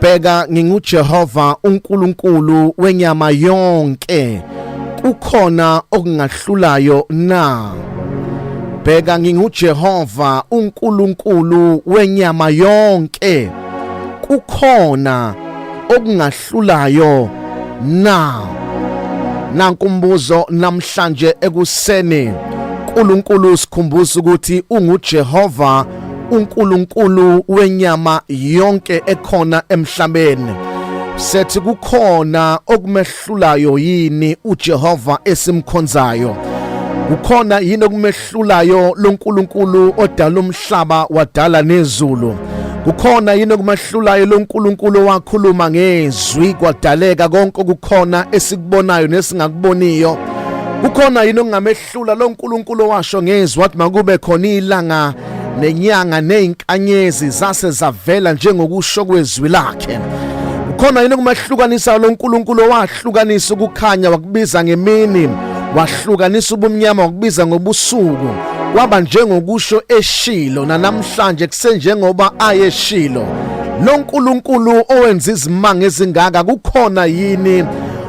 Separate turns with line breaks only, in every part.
bheka nginguJehova uNkulunkulu wenyama yonke kukhona okungahlulayo na bheka nginguJehova uNkulunkulu wenyama yonke kukhona okungahlulayo na nanku umbuzo namhlanje ekuseni uNkulunkulu sikhumbuza ukuthi unguJehova uNkulunkulu wenyama yonke ekhona emhlabeni sethi kukhona okumehlulayo yini uJehova esimkhonzayo kukhona yini okumehlulayo loNkulunkulu odala umhlaba wadala nezulu kukhona yini okumahlulayo loNkulunkulu owakhuluma ngezwi kwadaleka konke okukhona esikubonayo nesingakuboniyo kukhona yini okungamehlula Hlula lo Nkulunkulu owasho ngezwi wathi makube khona ilanga nenyanga nezinkanyezi zase zavela njengokusho kwezwi lakhe. Ukhona yini kumahlukanisa lo Nkulunkulu owahlukanisa ukukhanya wakubiza ngemini, wahlukanisa ubumnyama wakubiza ngobusuku. Waba njengokusho eshilo nanamhlanje kusenjengoba ayeshilo. Lo Nkulunkulu owenza izimanga ezingaka kukhona yini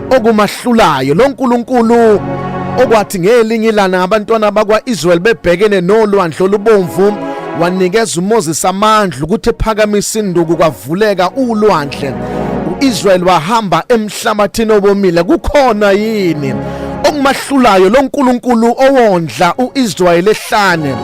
okumahlulayo lo Nkulunkulu okwathi ngelinye ilana abantwana bakwa-israyeli bebhekene nolwandle olubomvu wanikeza umoses amandla ukuthi ephakamisa induku kwavuleka ulwandle u-israyeli wahamba emhlabathini obomile kukhona yini okumahlulayo lo nkulunkulu owondla u-israyeli ehlane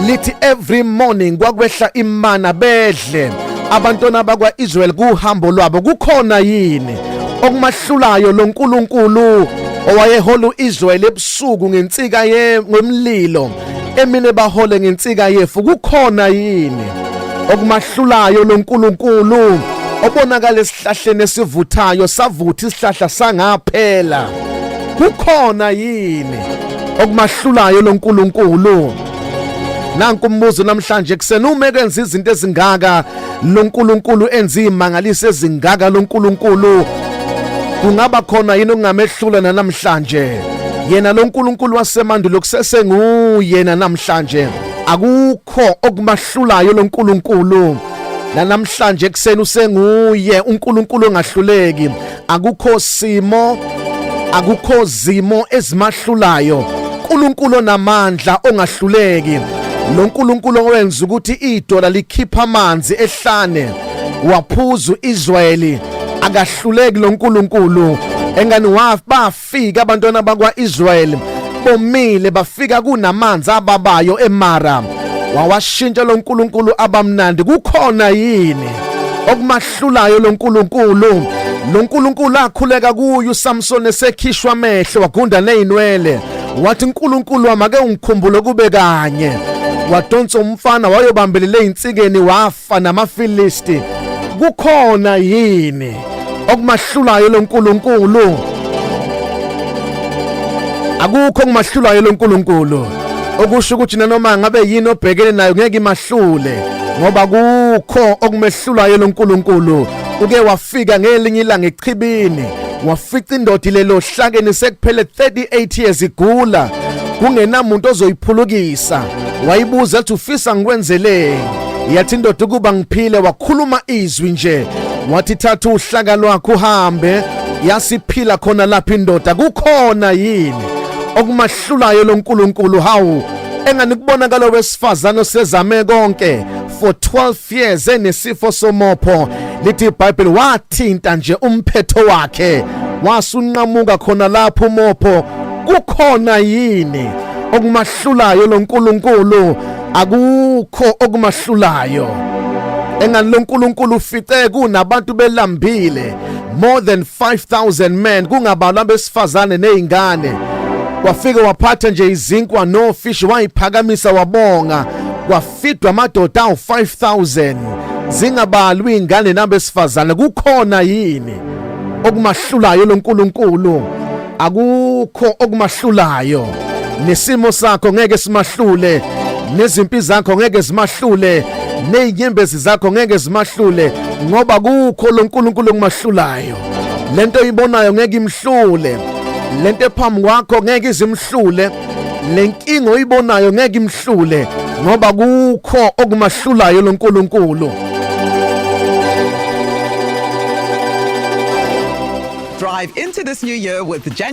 lithi every morning kwakwehla imana bedla kahle abantwana bakwa-israyeli kuhambo lwabo kukhona yini okumahlulayo lo nkulunkulu owayehola u-israyeli ebusuku ngensika ngomlilo emine bahole ngensika yefu kukhona yini okumahlulayo lo nkulunkulu obonakala esihlahleni esivuthayo savutha isihlahla sangaphela kukhona yini okumahlulayo lo nkulunkulu nanku umbuzo namhlanje kusena uma ekenza izinto ezingaka loNkulunkulu enza imangalise ezingaka loNkulunkulu kungaba khona yini okungamehlula namhlanje yena loNkulunkulu wasemandulo kusese nguyena namhlanje akukho okumahlulayo loNkulunkulu nanamhlanje kuseni usenguye uNkulunkulu ongahluleki akukho simo akukho zimo ezimahlulayo uNkulunkulu onamandla ongahluleki lo nkulunkulu owenza ukuthi idola likhipha amanzi ehlane waphuza uIsrayeli akahluleki lo nkulunkulu engani wafa bafika abantwana bakwa-israyeli bomile bafika kunamanzi ababayo emara wawashintsha lo nkulunkulu abamnandi kukhona yini okumahlulayo lo nkulunkulu lo nkulunkulu akhuleka kuyo usamsoni esekhishwa amehlo wagunda ney'nwele wathi nkulunkulu wami ake ungikhumbule kube kanye wadonsa umfana wayobambelele ey'nsikeni wafa Fa namaFilisti kukhona yini okumahlulayo loNkulunkulu? Akukho okumahlulayo loNkulunkulu. Okusho ukuthi nanoma ngabe yini obhekene nayo ngeke imahlule ngoba kukho okumehlulayo loNkulunkulu. Uke wafika ngelinye ilanga echibini wafica indoda ilelo hlakeni sekuphele 38 years igula kungenamuntu ozoyiphulukisa wayibuza ukuthi ufisa ngikwenzeleni yathi indoda ukuba ngiphile wakhuluma izwi nje wathi thatha uhlaka lwakho uhambe yasiphila khona lapha indoda kukhona yini okumahlulayo loNkulunkulu hawu engani kubona kalo wesifazane osezame konke for 12 years enesifo somopho lithi iBhayibheli wathinta nje umphetho wakhe wasunqamuka khona lapho umopho kukhona yini okumah okumahlulayo lo Nkulunkulu akukho okumahlulayo engani lo Nkulunkulu ufice kunabantu belambile more than 5000 men kungabalwa besifazane nezingane wafike waphatha nje izinkwa no fish wayiphakamisa wabonga kufidwa amadoda awu-5000 zingabalwi iy'ngane nabesifazane kukhona yini okumahlulayo lonkulunkulu akukho okumahlulayo nesimo sakho ngeke simahlule nezimpi zakho ngeke zimahlule nezinyembezi zakho ngeke zimahlule ngoba kukho lonkulunkulu okumahlulayo lento oyibonayo ngeke imhlule lento ephambi kwakho ngeke izimhlule le nkinga oyibonayo ngeke imhlule ngoba kukho okumahlulayo lo nkulunkulu
drive into this new year with genuine